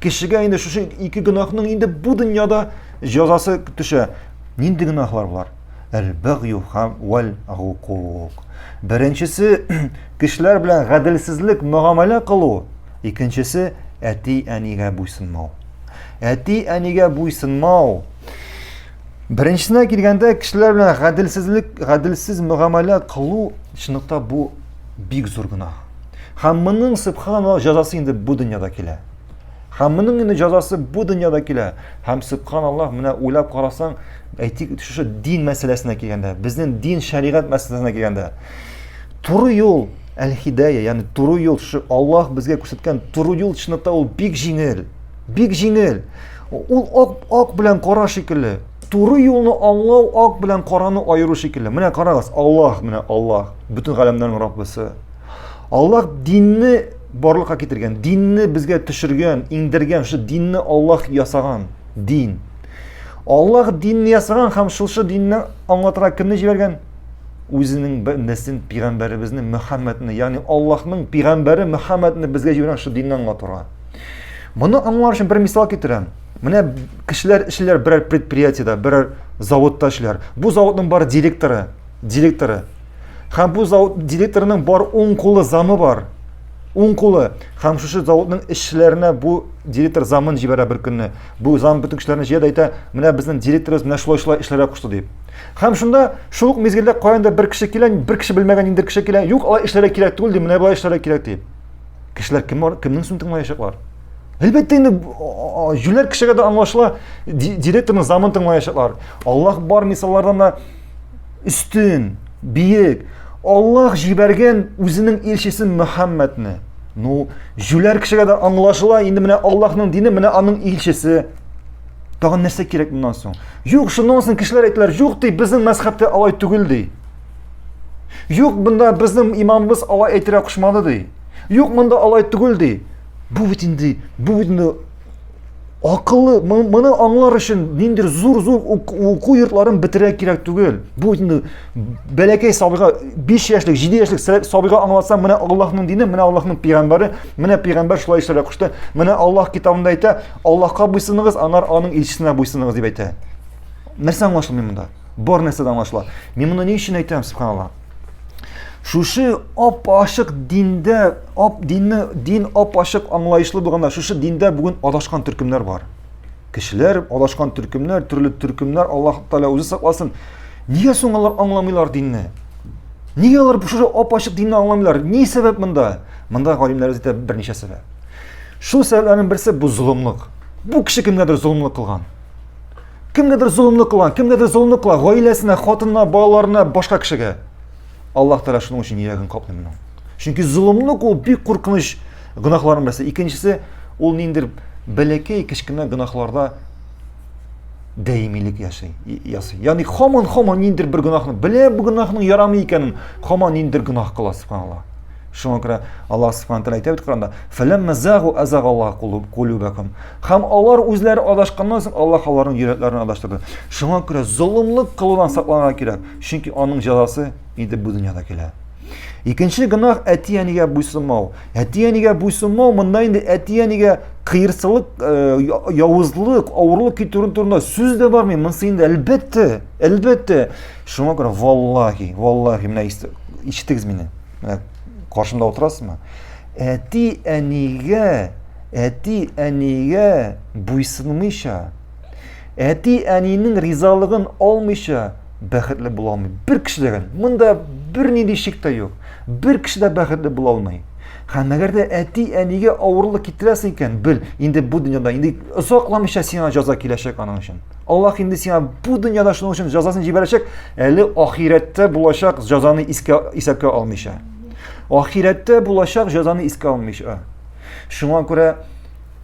Кешегә инде шушы ике гөнаһның инде бу дөньяда җәзасы төшә. Нинди гөнаһлар болар? Әл-бәгъю һәм вәл гукук. Беренчесе кешеләр белән гаделсезлек мөгамәлә кылу, икенчесе әти-әнигә буйсынмау. Әти-әнигә буйсынмау Беренчесенә килгәндә, кешеләр белән гаделсезлек, гаделсез мөгамәлә кылу, чынлыкта бу бик зур гына. Һәм моның субханаллах җәзасы инде бу дөньяда килә. Һәм моның инде җәзасы бу дөньяда килә. Һәм субханаллах менә уйлап карасаң, әйтик, шушы дин мәсьәләсенә килгәндә, безнең дин шәригать мәсьәләсенә килгәндә, туры юл әл-хидая, ягъни туры юл, шушы Аллаһ безгә күрсәткән туры юл чынлыкта ул бик җиңел. Бик җиңел. Ул ак, ак белән кара шикелле. Туры юлны аңлау ак белән караны аеру шикелле. Менә карагыз, Аллаһ, менә Аллаһ, бөтен галәмнәрнең Раббысы. Аллах динне барлыкка китергән, динне безгә төшергән, иңдергән, шул динне Аллах ясаган, дин. Аллах динне ясаган һәм шул шул динне аңлатырга кемне җибәргән? Үзенең бәндәсен, пигамбәребезне Мөхәммәдне, ягъни Аллаһның пигамбәре Мөхәммәдне безгә җибәргән шул динне аңлатырга. Моны аңлар өчен бер мисал китерәм. Менә кешеләр эшләр берәр предприятиедә, берәр заводта эшләр. Бу заводның бар директоры, директоры Һәм бу завод директорының бар уң кулы замы бар. Уң кулы. Һәм шушы заводның эшчеләренә бу директор замын җибәрә бер көнне. Бу зам бөтен кешеләрне җыя да әйтә, менә безнең директорыбыз менә шулай-шулай эшләргә кушты дип. Һәм шунда шул ук мизгелдә каяндыр бер кеше килә, бер кеше белмәгән инде кеше килә, юк, алай эшләргә кирәк түгел ди, менә болай эшләргә кирәк ди. Кешеләр кем бар, кемнең сүзен тыңлаячаклар? Әлбәттә инде җүләр кешегә дә аңлашыла, директорның замын тыңлаячаклар. Аллаһ бар мисаллардан да өстен, биек, Аллаһ җибәргән үзенең илчесе Мөхәммәдне. Ну, җүләр кешегә дә аңлашыла, инде менә Аллаһның дине, менә аның илчесе. Тагын нәрсә кирәк моннан соң? Юк, шуннан соң кешеләр әйтәләр, юк ди, безнең мәзхәбтә алай түгел ди. Юк, монда безнең имамыбыз алай әйтергә кушмады ди. Юк, монда алай түгел ди. Бу бит инде, бу бит инде акыллы моны аңлар өчен ниндидер зур зур уку йортларын бетерә кирәк түгел бу инде бәләкәй сабыйга биш яшьлек җиде яшьлек сабыйга аңлатсаң менә аллаһның дине менә аллаһның пигамбәре менә пигамбәр шулай эшләргә кушты менә аллаһ китабында әйтә аллаһка буйсыныгыз анар аның илчесенә буйсыныгыз дип әйтә нәрсә аңлашылмый монда бар нәрсә дә аңлашыла мин моны ни өчен әйтәм субханалла Шушы ап-ачык диндә, ап динне, дин ап-ачык аңлаешлы булганда, шушы диндә бүген адашкан төркемнәр бар. Кешеләр адашкан төркемнәр, төрле төркемнәр, Аллаһ Тәгалә үзе сакласын. Нигә соң алар аңламыйлар динне? Нигә алар шушы ап-ачык динне аңламыйлар? Ни сәбәп монда? Монда галимнәр әйтә берничә сәбәп. Шул сәбәпләрнең берсе бу золымлык. Бу кеше кемгәдер золымлык кылган. Кемгәдер золымлык кылган, кемгәдер золымлык кылган, гаиләсенә, хатынына, балаларына, башка кешегә. Аллаһ Тәгалә шуның өчен йөрәген капмый моның. Чөнки золымлык ул бик куркыныч гөнаһларның берсе. Икенчесе ул ниндер бәләкәй кечкенә гөнаһларда даимилек яши, ясый. Ягъни хаман хаман ниндер бер гөнаһны, белә бу гөнаһның ярамый икәнен, хаман ниндер гөнаһ кыла, субханаллаһ. Шуңа күрә Аллаһ Субхану тәгалә әйтә бит Коранда: "Фәләммә загу азагаллаһу кулуб кулубакум". Һәм алар үзләре адашканнан соң Аллаһ аларның йөрәкләрен адаштырды. Шуңа күрә золымлык кылудан сакланырга кирәк, чөнки аның җәзасы инде бу дөньяда килә. Икенче гөнаһ әти-әнигә буйсынмау. Әти-әнигә буйсынмау монда инде әти-әнигә кыерсылык, э, явызлык, авырлык китерү турында сүз дә бармый. Монысы инде әлбәттә, әлбәттә. Шуңа күрә валлаһи, валлаһи, менә ишетегез мине. Менә каршымда утырасызмы? Әти әнигә, әти әнигә буйсынмыйча, әти әнинең ризалыгын алмыйча бәхетле була алмый. Бер кеше дә монда бернинди шик тә юк. Бер кеше дә бәхетле була алмый. Һәм әгәр дә әти әнигә авырлык китерәсең икән, бел, инде бу дөньяда инде озакламыйча сиңа җаза киләчәк аның өчен. Аллаһ инде сиңа бу дөньяда шуның өчен җәзасын җибәрәчәк, әле ахирәттә булачак җәзаны искә исәпкә алмыйча. Ахирәттә булачак җәзаны искә алмыйча. Шуңа күрә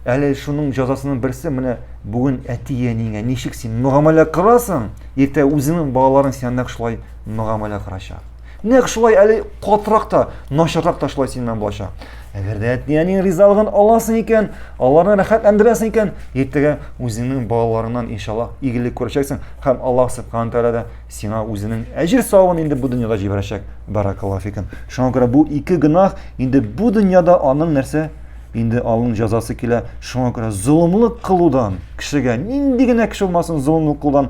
әле шуның җәзасының берсе менә бүген әти-әнигә ничек син мөгамәлә кыласың, иртә үзеңнең балаларың сиңа нәкъ шулай мөгамәлә кылачак. Нәкъ шулай әле катырак та, начаррак та шулай синнән булачак. Әгәр дә әти-әниң ризалыгын аласың икән, аларны рәхәтләндерәсең икән, иртәгә үзеңнең балаларыңнан иншаллаһ игелек күрәчәксең һәм Аллаһ субхана тәгалә дә сиңа үзенең әҗер савабын инде бу дөньяда җибәрәчәк. Баракаллаһу фикум. Шуңа күрә бу ике гөнаһ инде бу дөньяда аның нәрсә? Инде аның җәзасы килә. Шуңа күрә золымлык кылудан, кешегә нинди генә кеше булмасын, золымлык кылудан